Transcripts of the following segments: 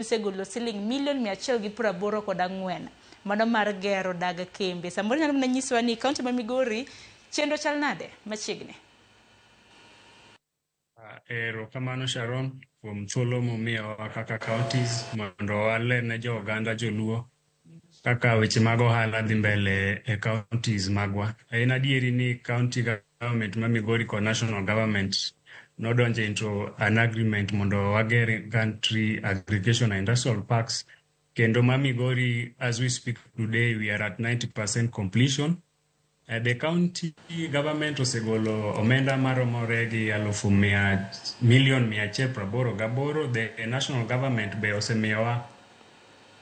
osegolo siling milion mia achiel gi piero aboro kod ang'wen mano mar gero dag kembe. Samoro inyalo mana nyisowa ni kaunti ma Migori chenro chal nade machiegni? Erokamano Sharon kuom thuolo mumiyowa kaka counties mondo wale ne jo oganda joluo kaka weche mag ohala dhi mbele e counties magwa. En adieri ni county government ma Migori kod national government nodonjo into an agreement mondo wager country aggregation and industrial parks kendo ma Migori as we speak today we are at 90% completion Eh, the county government osegolo omenda maromore gi alufu mia milion mia achiel praboro gaboro the eh, national government be osemiyowa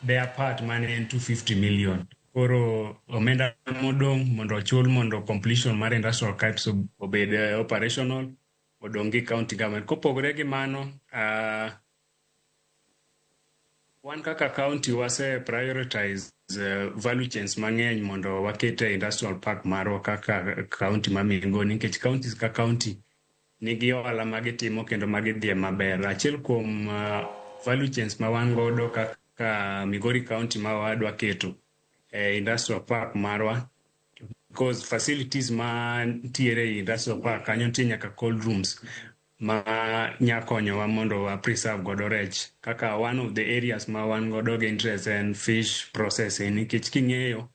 their part mane en 250 million koro omenda modong' mondo ochul mondo completion mar industrial archives ob- obed eh, operational odong' gi county government kopogore gi mano ah, Wan kaka county wase prioritize uh, value chains mang'eny mondo waket e industrial park marwa kaka county ma Migoni nikech counties ka county nigi ohala ma gitimo kendo ma gidhie maber. Achiel kuom uh, value chains ma wan godo kaka Migori county ma wadwa keto e industrial park marwa because facilities ma ntiere e industrial park kanyo nitie nyaka cold rooms ma nya konyowa mondo wa preserve godo rech kaka one of the areas ma wan godo gi interest en fish processing nikech king'eyo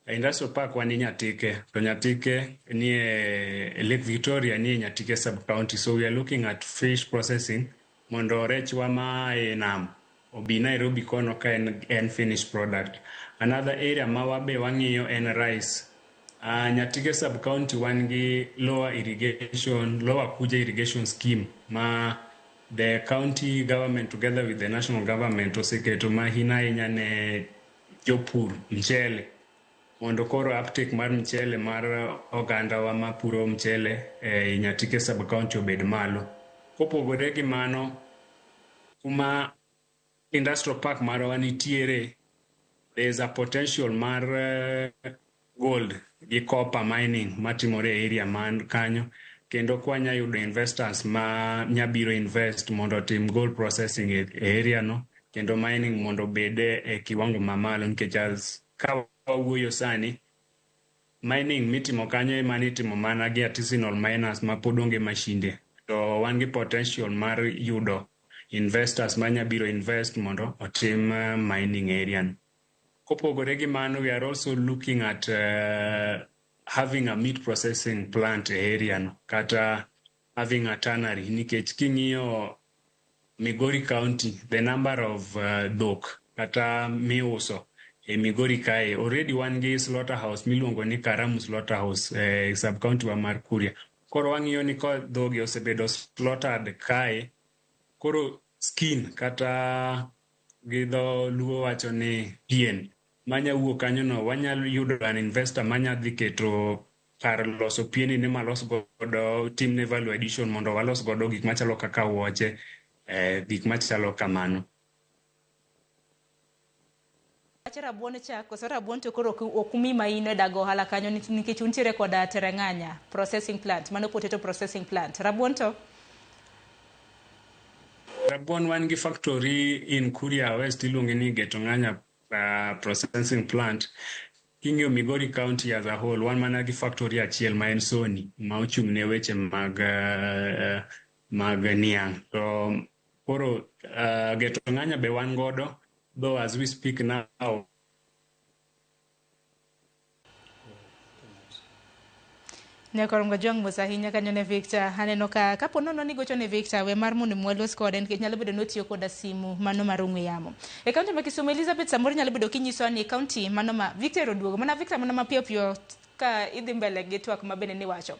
e industrial park wan e Nyatike to Nyatike nie Lake Victoria nie Nyatike sub county so we are looking at fish processing mondo rechwa ma e nam obi Nairobi kono ka en en finished product. Another area ma wabe wang'iyo en rice. Uh, Nyatike sub county wan gi lower irrigation, lower Kuja irrigation scheme ma the county government together with the national government oseketo mahina ahinya ne jopur mchele Mondo koro uptake mar mchele mar ogandawa mapuro mchele ei Nyatike sub-county obed malo. Kopogore gi mano, kuma industrial park marwa nitiere, there is a potential mar gold gi copper mining matimore e area man kanyo, kendo kwanya yudo investors ma nya biro invest mondo otim gold processing e area no, kendo mining mondo obed e kiwango mamalo nikech as Ka wawuoyo sani, mining mitimo kanyo emane itimo mana gi artisanal miners ma pod onge mashinde. To wan gi potential mar yudo investors ma nya biro invest mondo otim mining e area ni. Kopogore gi mano, we are also looking at having a meat processing plant e area no kata having a tannery nikech king'iyo Migori County the number of uh, dhok kata miuso e Migori kae already wan gi slaughterhouse miluongo ni Karamu slaughterhouse e eh, sub county wa mar Kuria koro wang'iyo ni ka dhogi osebedo slaughtered kae koro skin kata gi dho luo wacho ni pien manya wuok kanyono wanyalo yudo an investor manya dhi keto kar loso pieni ni malos godo timne value addition mondo walos godo gik machalo kaka wuoche eh, gik machalo kamano Wach rabuon cha koso rabuon to koro ok- ok umi ma in e dago ohala kanyo ni- nikech untiere koda tereng'anya processing plant mano potato processing plant rabuon to rabuon wan gi factory in kuria west iluonge ni getonganya uh, processing plant King'iyo Migori County as a whole, wan mana gi factory achiel ma en Sony ma ochung' ne weche mag uh, mag niang'. To koro uh, Geto Ng'anya be wan godo, though as we speak now Ne koro ngo jong mos ahinya kanyo ne Victor. Aneno ka kapo nono ni gocho ne Victor we mar mondo mi walos kode nikech nyalo bedo ni otiyo koda simu mano mar ong'we yamo. E kaunti ma Kisumu Elizabeth samoro nyalo bedo kinyiso ni kaunti mano ma Victor oduogo. Mana Victor mana mapiyo piyo ka idhi mbele gi twak ma bende niwacho.